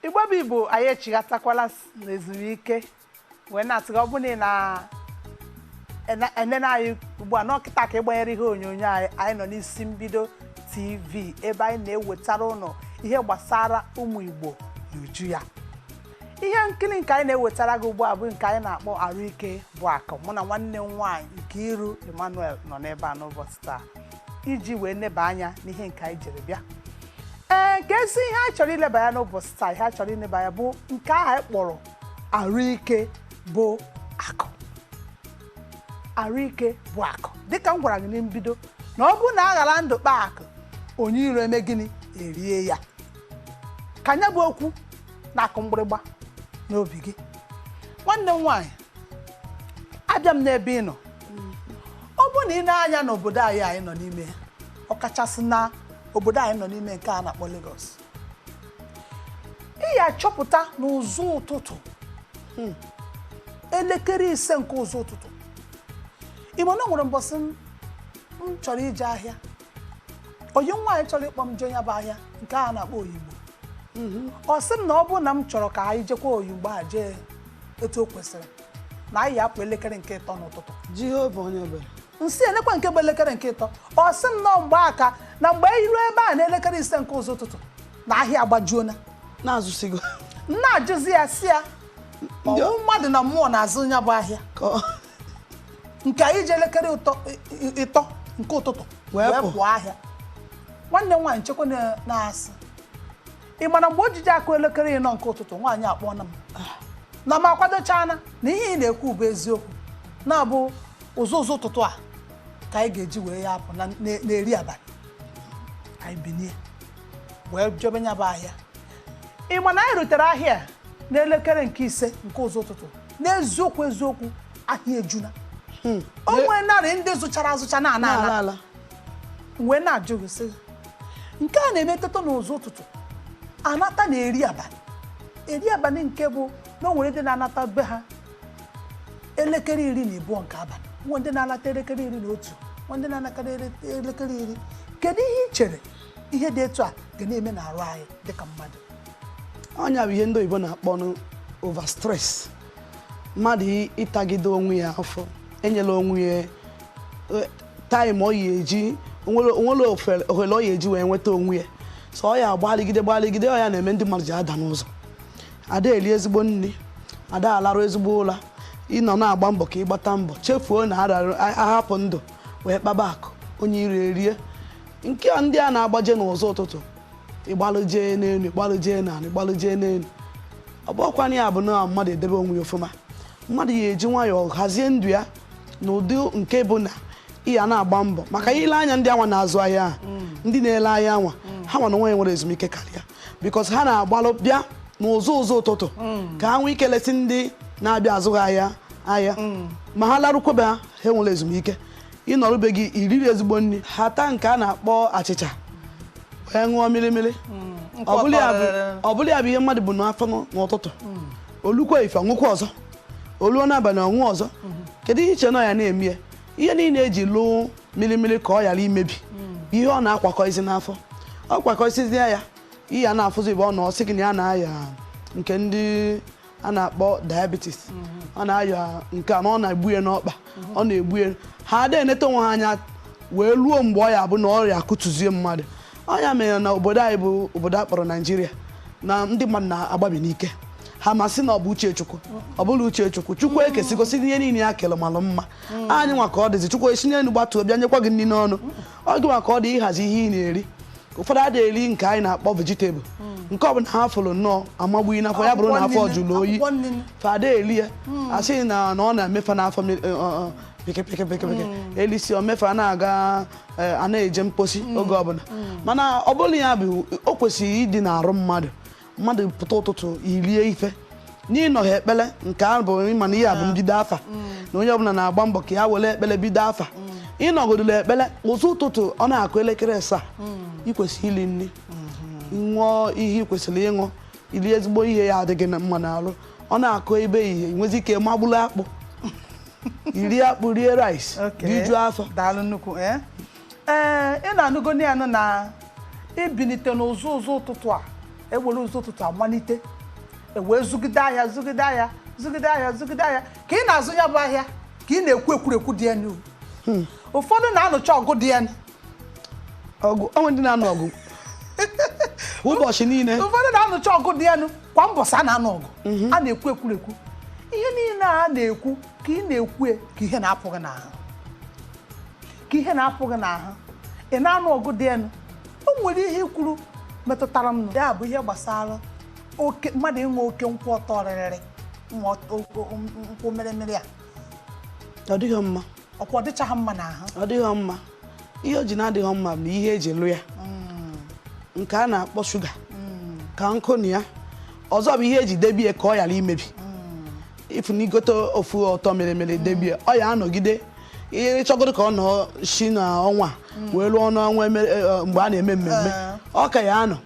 igbo bụ igbo anyị echighatakwala s- n'ezumike wee na-asị gị ọ bụrụ na ị na-enene anyị ugbu a na ọ kịta ka ị gbanyere ihe onyonyo anyị anyị nọ n'isi mbido tv ebe anyị na-ewetara ụnụ ihe gbasara ụmụ igbo n'uju ya ihe nkiri nke anyị na-ewetara gị ugbu a bụ nke anyị na-akpọ arụike bụ akụ mụ na nwanne m nwaanyị nkeiru emmanuel nọ n'ebe a n'ụbọchị taa iji wee neba anya n'ihe nke anyị jere bịa ee kezi ihe anyị chọrọ ileba anya n'ụbọchị taa ihe anyị chọrọ ileba anya bụ nke ahụ anyị kpọrọ arụike bụ akụ arụike bụ akụ dịka m gwara gị na mbido na ọ bụrụ na a ghara ndụ kpaa akụ onye iro eme gịnị erie ya ka nya bụ okwu na-akụ mgbịrịgba n'obi gị nwanne m nwaanyị abịa m n'ebe ị nọ ọ bụ na i nee anya n'obodo anyị anyị nọ n'ime ya ọkachasị na obodo anyị nọ n'ime nke a na-akpọ Lagos ị ya achọpụta n'ụzọ ụtụtụ hmm, elekere ise nke ụzọ ụtụtụ ị ma na o nwere mbọsị m m chọrọ ije ahịa ọyị m nwaanyị chọrọ ịkpọ m jee ya bụ ahịa nke a na-akpọ oyingbo mhm. ọ sị m na ọ bụrụ na m chọrọ ka anyị jekwa oyingbo a jee etu o kwesịrị na anyị ya apụ elekere nke ịtọ n'ụtụtụ Jehova onye ebere m sị elekwa nke bụ elekere nke ịtọ ọ sị m na ọ mgbe a ka na mgbe i ruo ebe a na elekere ise nke ụzọ ụtụtụ na ahịa agbajuona na azụsigo m na-ajụzi ya sị ya ọ wụ mmadụ na mmụọ na-azụ nya bụ ahịa nke anyị ji elekere ụtọ ị- ị- ịtọ nke ụtụtụ Wee wee pụ. pụọ ahịa nwanne m nwaanyị chekwa na asị ị ma na mgbe o jiji akụ elekere ịnọ nke ụtụtụ nwaanyị akpọọna m na m akwadochaana na ihe ị na-ekwu bụ eziokwu na ọ bụ ụzọ ụzọ ụtụtụ a ka anyị ga-eji wee apụ na- na- n'eri abalị anyị binie wee jebe nya bụ ahịa ị ma na anyị rutere ahịa a n'elekere nke ise nke ụzọ ụtụtụ n'eziokwu eziokwu ahịa ejuna hmm. o nweenarị ndị zụchara azụcha na-ana ana wee na-ajụ gị sị nke a na-eme teta n'ụzọ ụtụtụ anata na eri abalị eri abalị nke bụ na o nwere ndị na-anata be ha elekere iri na ịbụọ nke abalị nwee ndị na-anata elekere iri na otu nwee ndị na-anata elekere iri kedu ihe ị chere ihe dị etu a ga na-eme n'arụ anyị dịka mmadụ ọ nya bụ ihe ndị oyibo na-akpọ over stress mmadụ ịtagide onwe ya afụfụ enyela onwe ya e, time ọ ya eji were ohere ọ ya eji wee nweta onwe ya so ọ ya gbaligide gbaligide ọ ya na-eme ndị mmadụ ji ada n'ụzọ ada eli ezigbo nni ada alarụ ezigbo ụla ị nọ na-agba mbọ ka ị gbata mbọ chefuo na a hapụ ndụ wee kpaba akụ onye iro erie nke ndị a na-agbaje n'ụzọ ụtụtụ ị gbalụ jee n'elu ị gbalụ jee n'ala ị gbalụ jee n'elu ọ bụkwanụ ya bụ na mmadụ edebe onwe ya ofụma mmadụ ya eji nwayọọ hazie ndụ ya n'ụdị nke bụ na ị ya na-agba mbọ maka i lee anya ndị anwa na-azụ ahịa ahụ ndị na-ele ahịa anwa ha nwa n'onwe ha nwere ezumike karịa because ha na-agbalụ bịa n'ụzọ ụzọ ụtụtụ ka ha nwee ike lesị ndị na-abịa azụ ha ahịa ahịa ma ha larukwa be ha ha enwere ezumike ị nọrụ be gị iriri ezigbo nri ha taa nke a na-akpọ achịcha wee ṅụọ mịlịmịlị hmm, ọ bụla ya bụ ihe mmadụ bu n'afọ n'ụtụtụ hmm. o lukwa efifie ọ ṅụkwa ọzọ o luo n'abalị ọ ṅụọ ọzọ hmm. kedu ihe i che na ọ ya na-eme ya ihe niile e ji lụọ mịlịmịlị ka ọ ghara imebi ihe ọ na-akwakọizi n'afọ ọ kwakọisizie ya ị ya na-afụzi ebe ọ nọ ọ sị gị na ya na-aya nke ndị a na-akpọ diabetes ọ na-aya nke a na ọ na-egbu ya n'ọkpa ọ na-egbu ya ha ada eneta onwe ha anya wee luo mgbe ọ ya-abụ na ọrịa akụtụzie mmadụ ọ ya mere na obodo anyị bụ obodo a kpọrọ nigeria na ndị mmadụ na-agbabi n'ike ha masị na ọ bụ uche chukwu ọ bụla uche chukwu chukwu ekesigosi ihe niile ya kere malụ mma anyị nwa ka ọ dịzi chukwu esi n'elu gbatuo bịa nyekwa gị nri n'ọnụ ọ gị nwa ka ọ dị ịhazi ihe ị na-eri ụfọdụ ada eli nke anyị na-akpọ vegetable hmm. nke ọbụla ha fụrụ nnọọ amagbuo ya n'afọ ya bụrụ na afọ jụrụ oyi fa ada eli ya hmm. asị na na ọ na-eme fa n'afọ eh, eh, eh, pịkịpịkịpịkịpịkị hmm. e lisie o mee fa a na-aga a na-eje mposi oge ọbụla mana ọ bụla ya bụ o kwesịrị ịdị n'arụ mmadụ mmadụ pụta ụtụtụ i rie ife na ị nọghị ekpere nke a bụ ị ma na ihe a bụ ah. mbido afa mm. na onye ọbụla na-agba mbọ ka ya were ekpere bido afa mm. ị nọgodula ekpere ụzọ ụtụtụ ọ na-akụ elekere asaa mm. i kwesị iri nri mm-hmm. ṅụọ ihe i kwesịrị ịṅụ iri ezigbo ihe ya-adị gị mma n'arụ ọ na-akụ efifie i nwezie ike magbulu akpụ iri akpụ rie rice rijuo afọ eh? ee ị na-anụgo na ya nụ na i binite n'ụzọ ụzọ ụtụtụ a ewere ụzọ ụtụtụ amalite ewee zụgide ahịa zụgide ahịa zụgide ahịa zụgide ahịa ka ị na-azụ ya bụ ahịa ka ị na-ekwu ekwurekwu dị enu ụfọdụ na-anụcha ọgụ dị enu ọgụ o nwe ndị na-anụ ọgụ ụbọchị niile ụfọdụ na-anụcha ọgụ dị enu kwa mbọsị a na-anụ ọgụ a na-ekwu ekwurekwu ihe niile a na-ekwu ka ị na-ekwu ka ihe na-apụ gị n'ahụ ka ihe na-apụ gị n'ahụ ị na-anụ ọgụ dị enu o nwere ihe i kwuru metụtara m nụ. ya bụ ihe gbasara oke mmadụ ịṅụ oke nkwụ ọtọ rịrịrị nwa ọtọ- o- o- nkwụ mịrịmịrị a ọ dịghị mma ọ kwa ọ dịchaghị mma n'ahụ ọ dịghị mma ihe o ji na-adịghị mma bụ ihe e ji lụọ ya nke a na-akpọ sugar ka nnukwu na ya ọzọ bụ ihe e ji debe ya ka ọ ghara imebi ifu na igote ofu ọtọ bịrịbịrị debe ya ọ ya anọgide ị chọgodu ka ọ nọ si na ọnwa wee luo n'ọnwa eme- eh, eh, mgbe a na-eme mmemme ọ ka ya anọ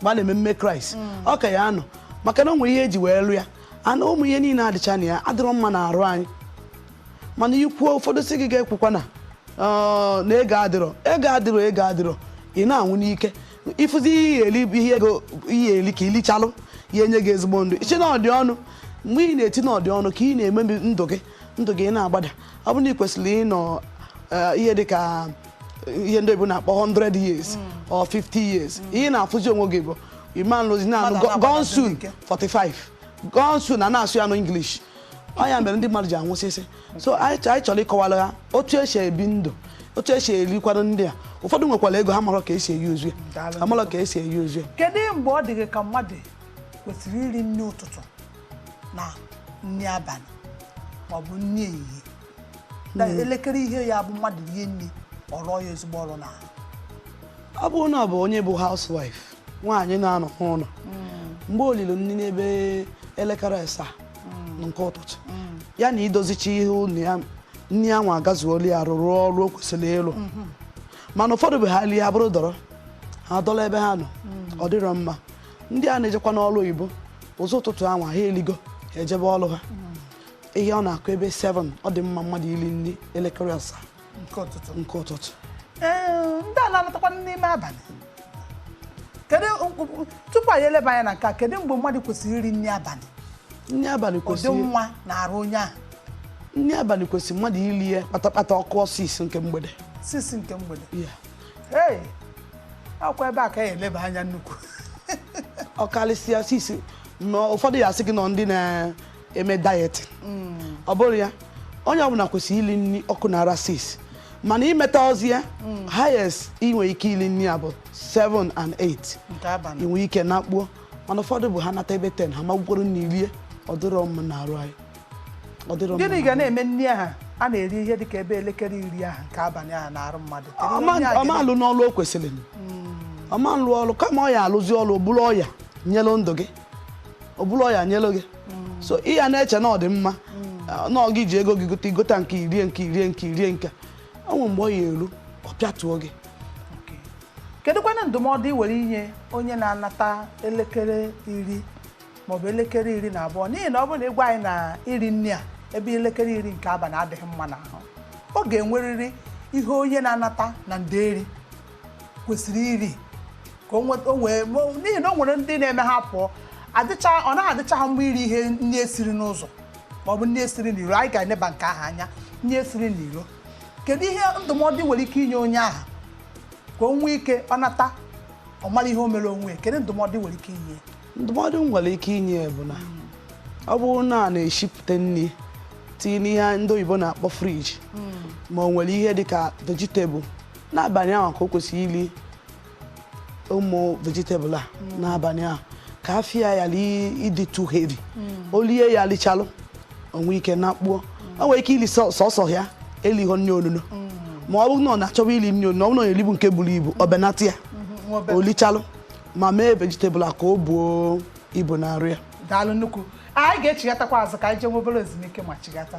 mgbe a na-eme mmemme Christ ọ ka ya anọ maka na o nwere ihe eji wee lụ ya ana ụmụ ihe niile a dịcha na ya adịrọ mma na arụ anyị mana ikwuo ụfọdụ sị gị ga-ekwukwa na ọ, na ego adịrọ ego adịrọ ego adịrọ ị na-anwụ n'ike ịfụzi ihe eli ihe eli ka ilichalụ ya enye gị ezigbo ndụ iche na ọdị ọnụ mgbe ị na-eti na ọdị ọnụ ka ị na-emebi ndụ gị ndụ gị na-agbada ọ bụrụ na ị kwesịrị ịnọ eh, ihe dị ka ihe ndị oyibo na-akpọ 100 years or 50 years ihe ị na-afụzi onwe gị bụ ịmanụzi na-anụ gone soon 45 gone soon a na-asụ ya n'English ọ ya mere ndị mmadụ ji anwụsịsị so anyị chọ- anyị chọrọ ịkọwara ha otu esi ebi ndụ otu esi erikwanụ ndị a ụfọdụ nwekwara ego ha marọ ka esi e use ya ha marọ ka esi e use ya kedu mgbe ọ dị gị ka mmadụ kwesịrị iri nri ụtụtụ na nri abalị maọbụ nri ehihie elekere ihe ya bụ mmadụ rie nri ọ rụọ ya ezigbo ọrụ n'ahụ ọ bụrụ na ọ bụ onye bụ housewife nwaanyị na-anọ n'ụlọ mgbe o lili nri n'ebe elekere asaa nke ụtụtụ ya na idozicha ihe ụlọ ya nri anwa agazuola ya rụrụ ọrụ o kwesịrị ịlụ mana ụfọdụ bụ ha lie ha buru dọrọ ha dọrọ ebe ha nọ ọ dịrọ mma ndị a na-ejekwa n'ọrụ oyibo ụzọ ụtụtụ anwa ha eligo ha ejebe ọrụ ha ihe ọ na-akụ ebe 7 ọ dị mma mmadụ ili nri elekere asaa nke ụtụtụ nke ụtụtụ ee ndị a na-alọtakwa n'ime abalị kedu mkpụkpụ- tupu anyị eleba anya na nke a kedu mgbe mmadụ kwesịrị iri nri abalị nri abalị kwesịrị ọ dị mma na arụ onye ahụ nri abalị kwesịrị mmadụ iri ya kpatakpata ọ kụọ 6 nke mgbede 6 nke mgbede ya ee ọkwa ebe a ka ya eleba anya nnukwu ọ karịsịa 6 ma ụfọdụ ya asị gị na ọ ndị na eme dieting mm. ọ bụrụ ya onye ọbụla kwesịrị ili nri ọ kụ na ara 6 mana imetazi ya mm. highest inwe ike ili nri ya bụ 7 and 8 inwe ike nakpuo mana ụfọdụ bụ ha nata ebe 10 ha magbukworo nri rie ọ dịrọ mma na arụ anyị gịnị ga na-eme nri ahụ a na-eri ihe dịka ebe elekere iri ahụ nke abalị ahụ na arụ mmadụ ọ ma alụnụ ọlụ o kwesịrị ọ ma alụ ọlụ kama ọ ya alụzi ọlụ o buru ọya nyelụ ndụ gị o buru ọya nyelụ gị mm. so ị ya na-eche na ọ dị mma mm. na ọ gị ji ego gị gote igota nke irie nke irie nke irie nke o nwe mgbe ọ ya eru ọ pịatuo gị kedụkwanụ ndụmọdụ i nwere inye onye na-anata elekere iri maọbụ elekere iri na abụọ n'ihi na ọ bụrụ na ịgwa anyị na iri nri a ebe elekere iri nke abalị adịghị mma n'ahụ ọ ga-enwerịrị ihe onye na-anata na nderi kwesịrị iri ka o nweta o wee mo- n'ihi na o nwere ndị na-eme ha pụọ adịcha ọ naghị adịcha ha mma iri ihe nri esiri n'ụzọ ma ọ bụ nri esiri n'iro anyị ga-eneba nke ahụ anya nri esiri n'iro kedu ihe ndụmọdụ ị nwere ike inye onye ahụ ka o nwee ike ọ nata ọ mara ihe o mere onwe ya kedu ndụmọdụ ị nwere ike inye ndụmọdụ m nwere ike inye ya bụ na ọ bụrụ na a na-eshipụta nri tinye n'ihe ndị oyibo na-akpọ friji ma o nwere ihe dịka vegetable n'abalị ahụ ka o kwesịrị ili ụmụ vegetable a n'abalị ahụ ka afọ ya li- ịdị too heavy o lie ya lichalụ o nwee ike nakpuo o nwere ike ili sọ- sọsọ ya elighọ nni onuno ma ọ bụrụ na ọ na-achọba ili nni onuno ọ bụrụ na ọ na-elibu nke buru ibu o benata ya o lichalụ ma mee vegetable a ka o buo ibu na arụ ya daalụ nnukwu anyị ga-echigatakwa azụ ka anyị jee nwe obere ezumike ma chigata